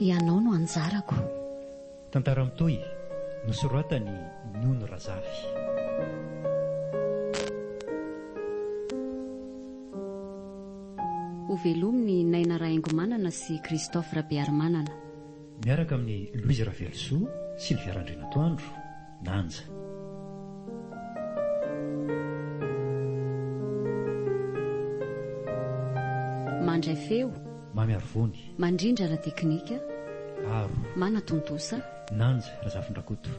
Ianao no anjarako. Tantara mitohy, nosoratan'i Nono Razafy. Ho velomin'i Naina Rahaingomanana sy Christophe Rabearimanana. Miaraka amin'i Louise Ravelosoa, Sylvia Randrianatoandro. Danja. Mandray feo. Mamy Arivony. Mandrindra ara-teknika. Aro. Manatontosa. Nanja Razafindrakoto.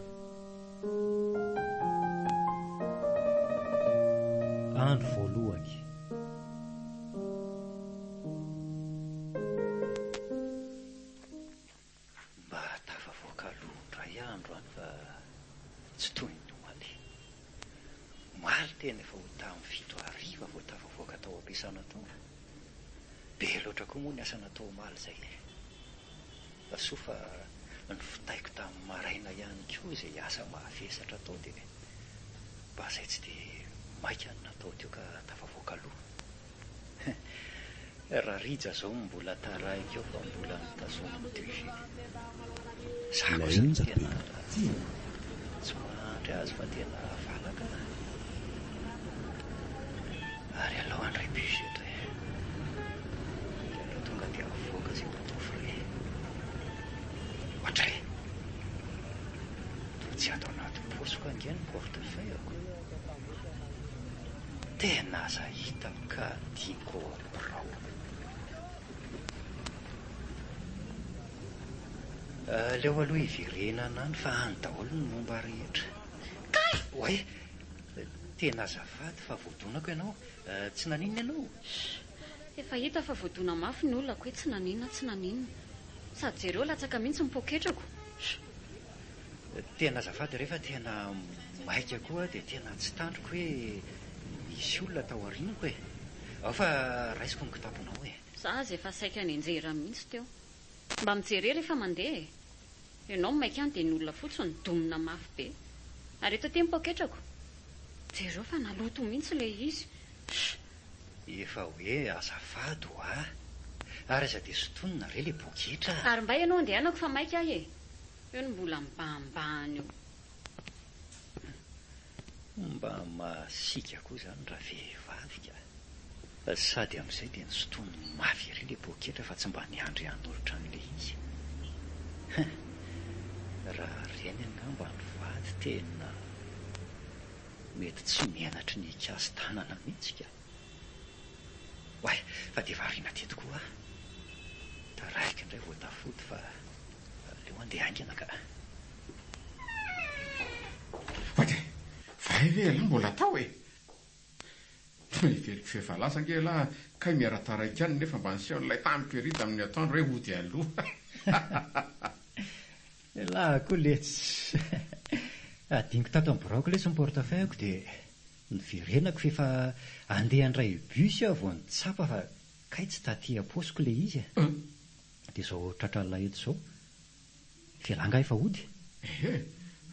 Andro voalohany. Mba tafavoaka aloha indray aho androany fa tsy toy ny omaly. Omaly tena efa ho tamin'ny fito hariva vao tafavoaka tao am-piasana tao. Be loatra koa moa ny asa natao omaly izay e! Fa soa fa novitaiko tamin'ny maraina ihany koa izay asa mahavesatra tao dia mba izay tsy dia maika no natao teo ka tafavoaka aloha. Raha rija zao mbola taraiky eo fa mbola mitazona ny deux G. Za kosa tsy tena tsy mahandry azy fa tena valaka an. Ary aleo handray bus eto e. Dia aleo tonga dia avoaka zay mba atao frais. Ohatry e. Toa tsy ato anaty paosiko ange ny portefeuille-ko. Tena aza hitako ka tiako ao am birao. Aleo aloha hiverenana any fa any daholo ny momba rehetra. Kay! Oay! Tena azafady fa voadonako ianao. Tsy naninona ianao? Shh! Efa hita fa voadona mafy ny olako hoe tsy naninona tsy naninona. Sady jereo latsaka mihitsy ny poketrako. Shh! Tena azafady re fa tena maika koa dia tena tsy tandriko hoe misy olona tao aorianako e! Ao fa raisiko ny kitaponao e! Za aza efa saika nenjehera mihitsy teo. Mba mijerer rehefa mandeha e! Ianao maika any dia ny olona fotsiny domina mafy be. Ary eto aty ny paoketrako! Jereo fa naloto mihitsy ilay izy! Sh! Efa hoe azafady ho'a! Ary aza dia sintonina re ilay poketra! Ary mba ianao andehanako fa maika ahy e! Eo ny mbola mibahambahana eo. Mba masiaka koa izany raha vehivavy ka! Sady amin'izay dia nosintoniny mafy ery ilay poketra fa tsy mba niandry hanolotra an'ilay izy. Hein! Raha ireny angamba ny vady tena mety tsy menatry ny hikasi-tanana mihitsy ka! Oay fa dia variana teto koa aho. Taraiky indray vao tafody fa aleo andeha haingana ka. Fa dia vay ve ialahy mbola tao e? Toa hiveliko feo efa lasa ange ialahy kay miara taraiky any nefa mba niseho an'ilay tany Perry tamin'ny atoandro hoe hody aloha. Ialahy koa letsy. Hadinoko tato amin'ny biraoko letsy ny portefeuille-ko dia. Niverenako f'efa andeha handray bus aho vao nitsapa fa kay tsy taty am-paosiko ilay izy e. Ëh! Dia izao tratralina eto izao. Ivelany angaha efa hody? Ehe!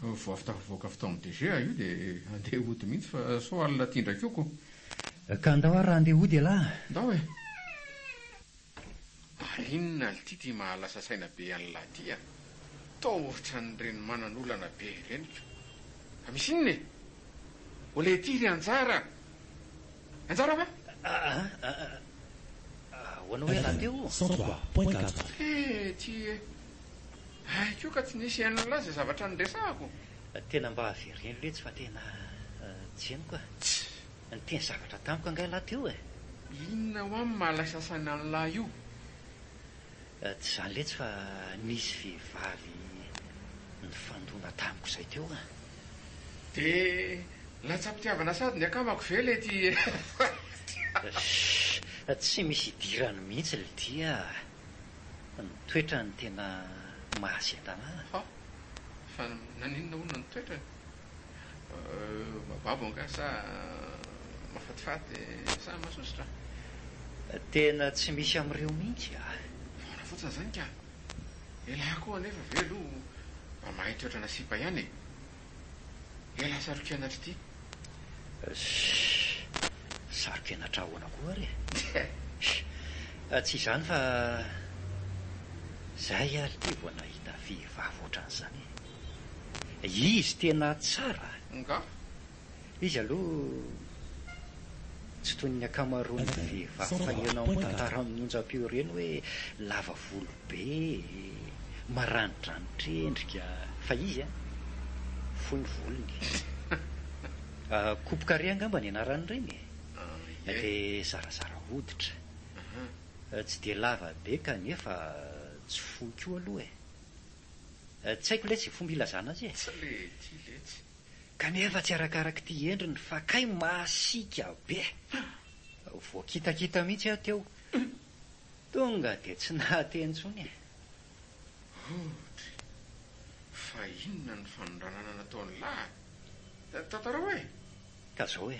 Vao avy tafavoaka avy tao amin'ny DG aho io dia andeha hody mihitsy fa sao alina aty indray koa ko. Ka ndao ary raha andeha hody elah! Ndao e! Ary inona lty ty mahalasa saina be anlah ty a! Toa ohatran'ireny manan'olana be ireny ko! Fa misy inona e! Olé ty ry Anjara a! Anjara va? Ahoana hoe raha teo o! cent trois point quatre. Hee ty e! Ahy koa ka tsy nisy anlah izay zavatra niresahako! Tena mba avereno letsy fa tena tsy henoko a! Tsy Niteny zavatra tamiko angaha lahy teo e? Inona hoa ny maha lay sasany an'i lahy io? Tsy izany letsy fa nisy vehivavy nifandona tamiko izay teo an! Dia latsa-pitiavana sady ny akamako ve ilay ity Sh! Tsy misy idirany mihitsy Lydia a! Ny toetrany tena mahazendana an! Hah! Fa naninona hono ny toetrany? Babo angaha sa mahafatifaty sa masosotra? Tena tsy misy amin'ireo mihitsy ah. Foana fotsiny izany ka. Elah koa anefa ve aloha mba mahay toetrana sipa ihany e. Elah sarokenatra ity. Shh. Sarokenatra ahoana koa ary e. Shh. Tsy izany fa zay aho ity vao nahita vehivavy ohatran'izany e. Izy tena tsara nga. Izy aloha tsy toy ny ankamaroan'ny vehivavy fa ianao moa no tara amin'ny onjam-peo ireny hoe lava volo be e, maranidranitra endrika fa izy an, fohy ny volony e. Coupe carré angamba ny anaran'ireny e. Dia zarazara hoditra. Tsy dia lava be kanefa tsy fohy koa aloha e. Tsy haiko letsy ny fomba hilazana azy e! Tsy lety letsy. Kanefa tsy arakarak'ity endriny fa kay masiaka be! Voakitakita mihitsy aho teo. Tonga dia tsy nahateny intsony e! Audrey, fa inona ny fanondranana nataon'i Lahy? Tantarao e! Ka zao e!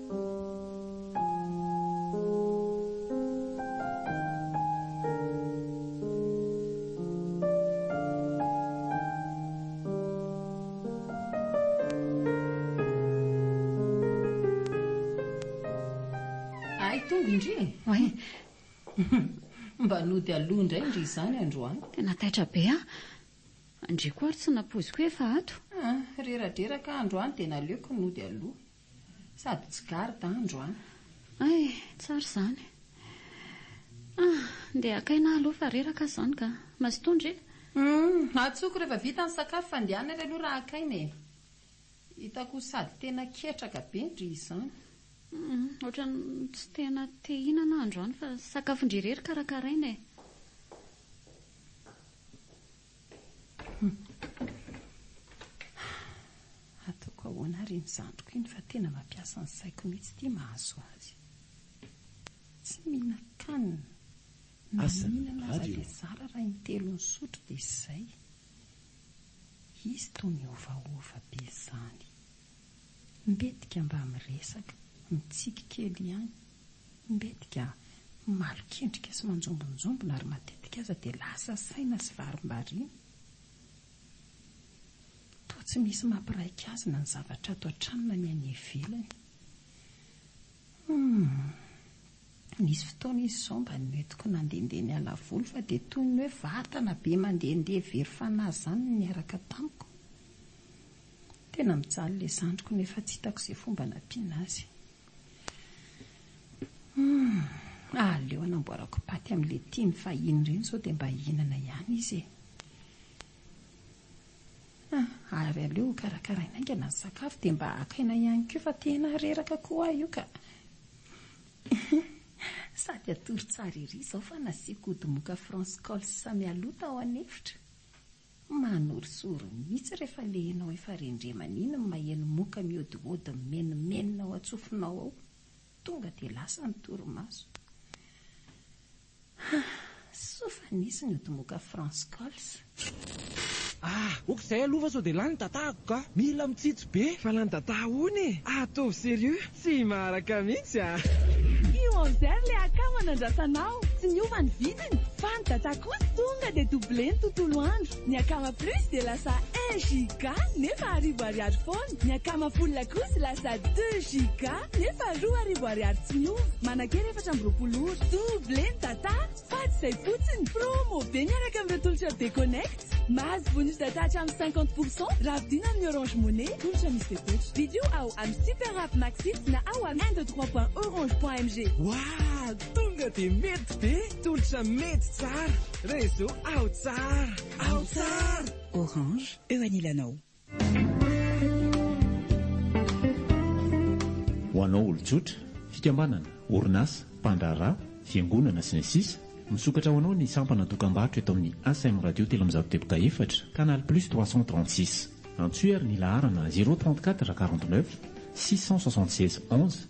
nody aloha indray ndry izany androany tena taitra be a ndry koa ary tsy napoiziko hoe efa ato ah, reradreraka androany dia naleoko nody aloha Sady tsy garde andro an! Ay, tsara izany. Ah, ndeha hakaina aloha fa reraka aho izany ka. Mazotoa ndry. Humm, atsoko rehefa vita ny sakafo fa ndeha any ary aloha raha hakaina e. Hitako ho sady tena ketraka be ndry izany. Humm, ohatran'ny tsy tena te hihinana aho androany fa sakafon-dry irery karakaraina e. Hataoko ahoana àry iny zandriko iny fa tena mampiasa ny saiko mihitsy ity mahazo azy. Tsy mihinan-kanina, na mihinana aza dia zara raha intelo nisotro dia izay. Izy toa miovaova be izany. Mbetika mba miresaka, mitsiky kely ihany. Mbetika malokendrika sy manjombonjombona ary matetika aza dia lasa saina sy varimbariana. Toa tsy misy mampiraika azy na ny zavatra ato an-trano na ny any ivelany. Humm. Nisy fotoana izy izao mba nentiko nandehandeha niala voly fa dia toy ny hoe vatana be mandehandeha very fanahy izany no niaraka tamiko. Tena mijaly ilay zandriko nefa tsy hitako izay fomba hanampiana azy. Humm, aleo hanamboarako paty amin'ilay tiany fahiny ireny izao dia mba hihinana ihany izy e. Ah, ary aleo hokarakaraina haingana ny sakafo dia mba haka aina ihany koa fa tena reraka koa aho io ka. Sady hatory tsara ery izao fa nasiako ody moka France Cols mialoha tao an'efitra. Manorisory mihitsy rehefa le enao efa rendremana iny ny maheno moka mihodihody mimenomenona ao an-tsofinao ao. Tonga dia lasa ny torimaso. Hah, soa fa nisy ny ody moka France Calls. Ah, ok zay aloha fa sao dia lany ny data-ko ka! Mila mitsitsy. Be valanda-dada ahoana e! Ataovy sérieux, tsy maharaka mihitsy a! Io Enzer le akama nandrasanao tsy niova ny vidiny fa ny data kosa tonga dia double ny tontolo andro, ny akama plus dia lasa un giga nefa arivo ariary foana, ny akama full kosa lasa deux giga nefa roa arivo ariary tsy miova, manakera efatra amby roapolo ora, double ny data! Fa tsy izay fotsiny, promo be miaraka amin'ireo tolotra be connect. Mahazo bonus data hatramin'ny cinquante pour cent raha vidina amin'ny Orange Money, tolotra misy fepetra. Vidéo ao amin'ny Super App Maxit na ao amin'ny un deux trois point orange point mg. Wahh! Tonga dia mety be! Tolotra mety tsara! Réseau ao tsara! Ao tsara! Orange, eo anilanao. Ho anao olon-tsotra, fikambanana, orinasa, mpandraharaha, fiangonana, sy ny sisa Misokatra ho anao ny sampana dokam-barotra eto amin'ny ASM Radio telo amby zato deboka efatra, Canal Plus trois cent trente six. Antsoy ary ny laharana zéro trente quatre quarante neuf six cent soixante seize onze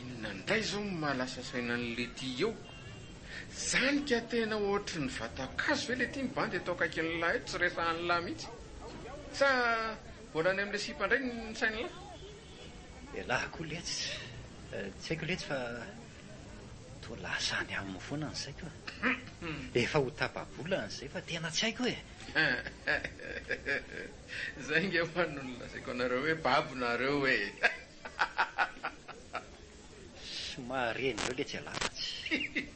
Inona indray izao no maha lasa saina an'i Letty eo? Zany ka tena ohatry ny vatan-kazo ve Letty mibandy eto akaikin'i Lah eto tsy resahan'i Lah mihitsy? Sa mbola any amin'ilay sipa indray ny sain'i Lah? Elah koa letsy, tsy haiko letsy fa Toa lasa any aminy foana ny saiko e. Efa ho tapa-bola an'izay fa tena tsy haiko e. Izay ange ho an' no nolazaiko anareo hoe babo nareo e. Somary ren'ireo letsy alahatsy.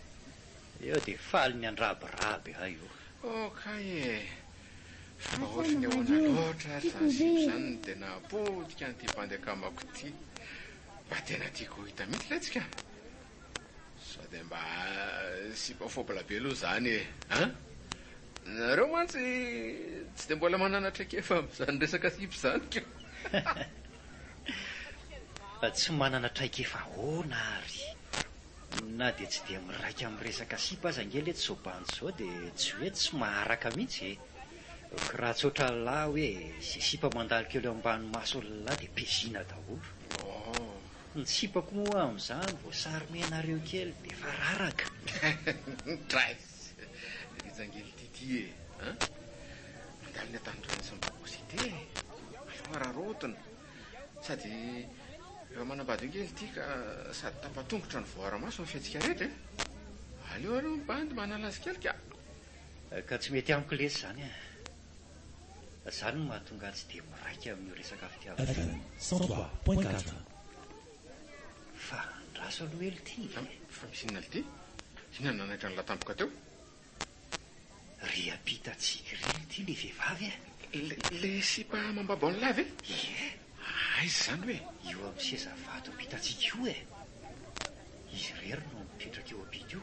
Eo dia faly miandrabiraby ahy io. Oh kay e. Fa ohatry ny ahoana loatra ary izany sipa izany no dia nahapotika an'ity bandy akamako ity. Mba tena tiako ho hita mihitsy letsy ka! Sao dia mba sipa fôbla be aloha izany e! An! Nareo mantsy tsy dia mbola manana traikefa amin'izany resaka sipa izany ka! Tsy manana traikefa ahoana ary? Na dia tsy dia miraika amin'ny resaka sipa aza ange letsy zao bandy izao dia tsy hoe tsy maharaka mihitsy e! Kira tsotra lahy hoe izay sipa mandalo kely eo ambany maso ny lahy dia pezina daholo. Ny sipako moa amin'izany vao sarimenareo kely dia efa raraka. Nitraiss ry jangil Tity e! Mandalo ny antanindrano sy ny babosity e! Aleo araraotina. Sady efa manambady eo kely ity ka sady tapa-tongotra no voaara-maso ny fihatsikareta e! Aleo aloha mibandy manala azy kely ka! Ka tsy mety amiko lesy izany an! Izany no mahatonga ahy tsy dia miraika amin'io resaka fitiavana io. Evan, sans toi, point quatre. Fa andraso aloha elo ity e! Fa misy inona lty? Inona no nanaitra an'la tampoka teo? Ry ampita tsiky ry elo ity le vehivavy e! Le sipa amam-babo an'la ve? Ie! Aiza izany hoe? Io amin'ny seza vato ampita tsiky io e! Izy irery no mipetraka eo ampita io.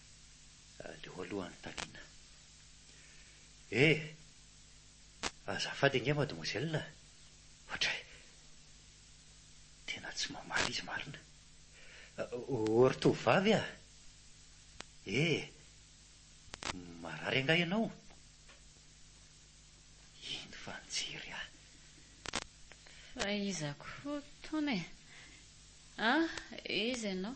Aleo aloha anontaniana. Eh! Azafady ange mademoiselle a! Ohatray! Tena tsy mamaly izy marina. Oh, ry tovovavy a! Eh! Marary angaha ianao? Iny fa nijery ahy. Fa iza koa itony e? Ah! Iza ianao?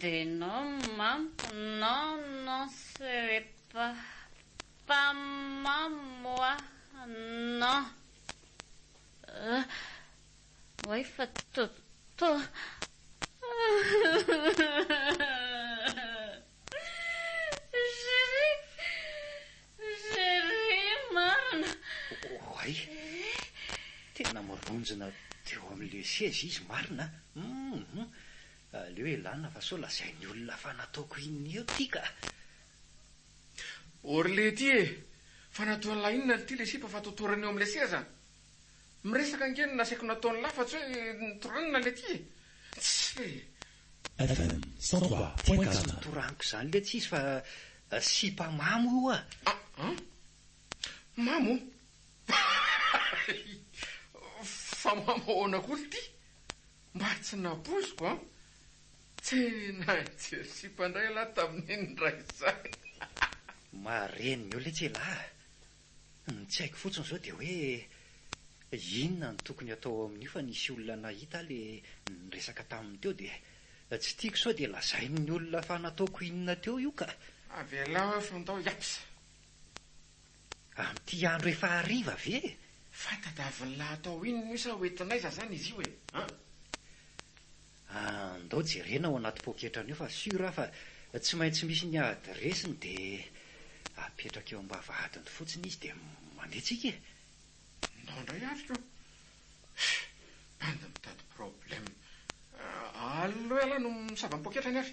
De non mamiko non non serait pas pas mamiko a non euh oay fa to to Vonjina teo amin'ilay seza izy marina an! Aleo elana fa sao lazain'ny olona fa nataoko inona eo ity ka! Orly ity e! Fa nataon'lah inona ity ilay sipa fa totoriny eo amin'ilay seza? Miresaka ange no nasaiko natao ny lafa tsy hoe notoranina le ty e! Tsy le. Fm, cent trois point quatre. Tsy notoraniko izany le tsy izy fa sipa mamo io a! Aa! Mamo? Fa mamo ahoana koa le ty? Mba tsy napoiziko an! Tena nijery sipa indray ialahy tamin'iny indray izany. Marenina eo le tsy elah a! Ny tsy haiko fotsiny izao dia hoe inona no tokony hatao ao amin'io fa nisy olona nahita le niresaka taminy teo dia tsy tiako sao dia lazain'ny olona fa nataoko inona teo io ka. Avelao eo fony tao yaps. Amin'ity andro efa hariva ve? Fa tadiavin'lah atao inona io sa ho entin'aiza zany izy io e? An? Andao jerena ao anaty poketrany ao fa sûr aho fa tsy maintsy misy ny adiresiny dia apetraka eo am-bavahadiny fotsiny izy dia mandeha tsika e! Ndao ndray hafika ô! Hum! Bandy mitady problème! Allo ela no misava ny poketrany ary!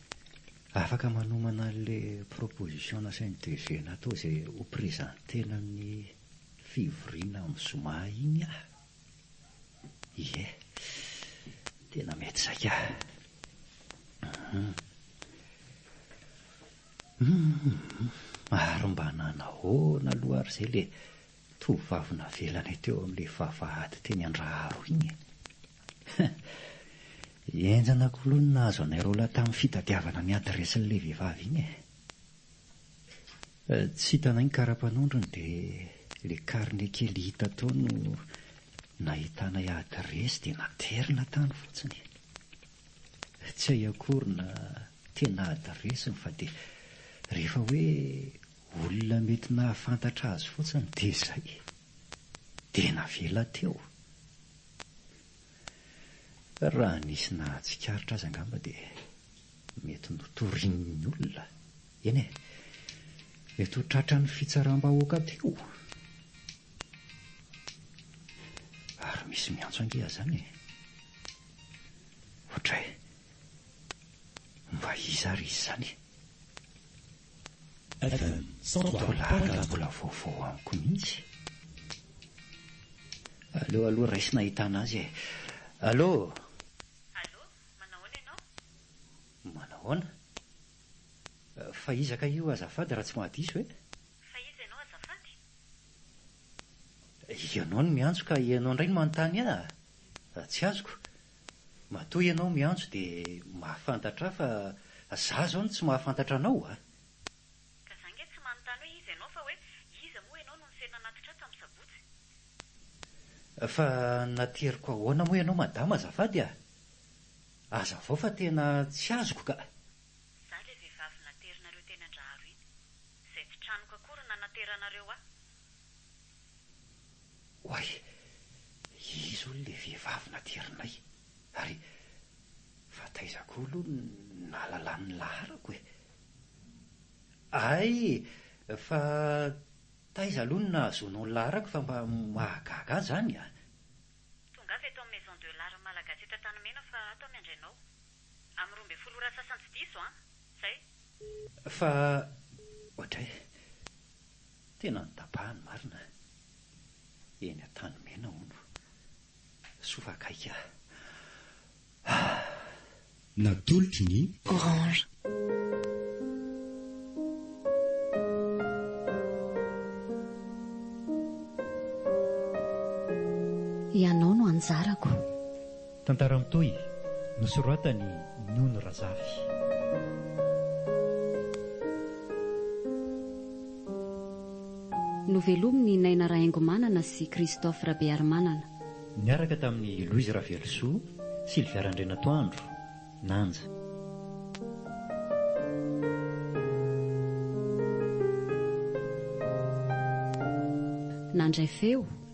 Afaka manomana an'ilay proposition nasain'ny DG natao izay ho presenter-na amin'ny fivoriana amin'ny zoma iny aho. Ie, tena mety saika. Hum, ary mba nanahoana aloha ary izay ilay Tovovavy navelanay teo amin'ilay vavahady teny Andraharo iny e! He! Henjana k'lou ny nahazo anay roa lahy tamin'ny fitadiavana ny adiresin'ilay vehivavy iny e! Tsy hitanay ny karapanondrony dia ilay carnet kely hita tao no nahitanay adiresy dia naterina tany fotsiny. Tsy hay akory na tena adiresiny fa dia rehefa hoe Olona mety nahafantatra azy fotsiny dia izay. Dia navela teo. Raha nisy nahatsikaritra azy angamba dia mety notorian'ny olona. Eny e, mety ho tratran'ny fitsaram-bahoaka teo. Ary misy miantso ange aza any e. Ohatray, mba iza ary izy izany? Evan, sao toa blague no mbola vaovao amiko mihitsy? Aleo aloha raisina ahitana azy e! Allo! Allo, manahoana ianao? Manahoana? Fa iza kay io azafady raha tsy mahadiso e? Fa iza ianao azafady? Ianao no miantso ka ianao indray no manontany ahy? Tsy azoko. Matoa ianao miantso dia mahafantatra ahy fa za zao no tsy mahafantatra anao a! Ka za nge tsy manontany hoe iza ianao fa hoe iza moa ianao no niserana anatitra ahy tamin'ny sabotsy? Fa nateriko ahoana moa ianao madama azafady a! Azavao fa tena tsy azoko ka! Za ilay vehivavy naterinareo teny Andraharo iny, izay tsy tranoko akory no nanateranareo ahy. Oay! Iza hono ilay vehivavy natirinay? Ary fa taiza koa aloha no nahalalany ny laharako e? Ay! Fa taiza aloha no nahazoanao ny laharako fa mba mahagaga ahy izany a! Tongava eto amin'ny Maison de l'Art Malagasy eto Antanimena fa ato aho miandry anao. Amin'ny roa ambin'ny folo ora sasany tsy diso an! Zay! Fa ohatray! Tena notapahany marina eny Antanimena hono. Soa fa akaiky aho. Natolotry ny. Orange. Ianao no anjarako. Tantara mitohy, nosoratan'i Nono Razafy. Novelomin'i Naina Rahaingomanana sy Christophe Rabearimanana. Niaraka tamin'i Louise Ravelosoa, Sylvia Randrianatoandro, Nanja. Nandray feo,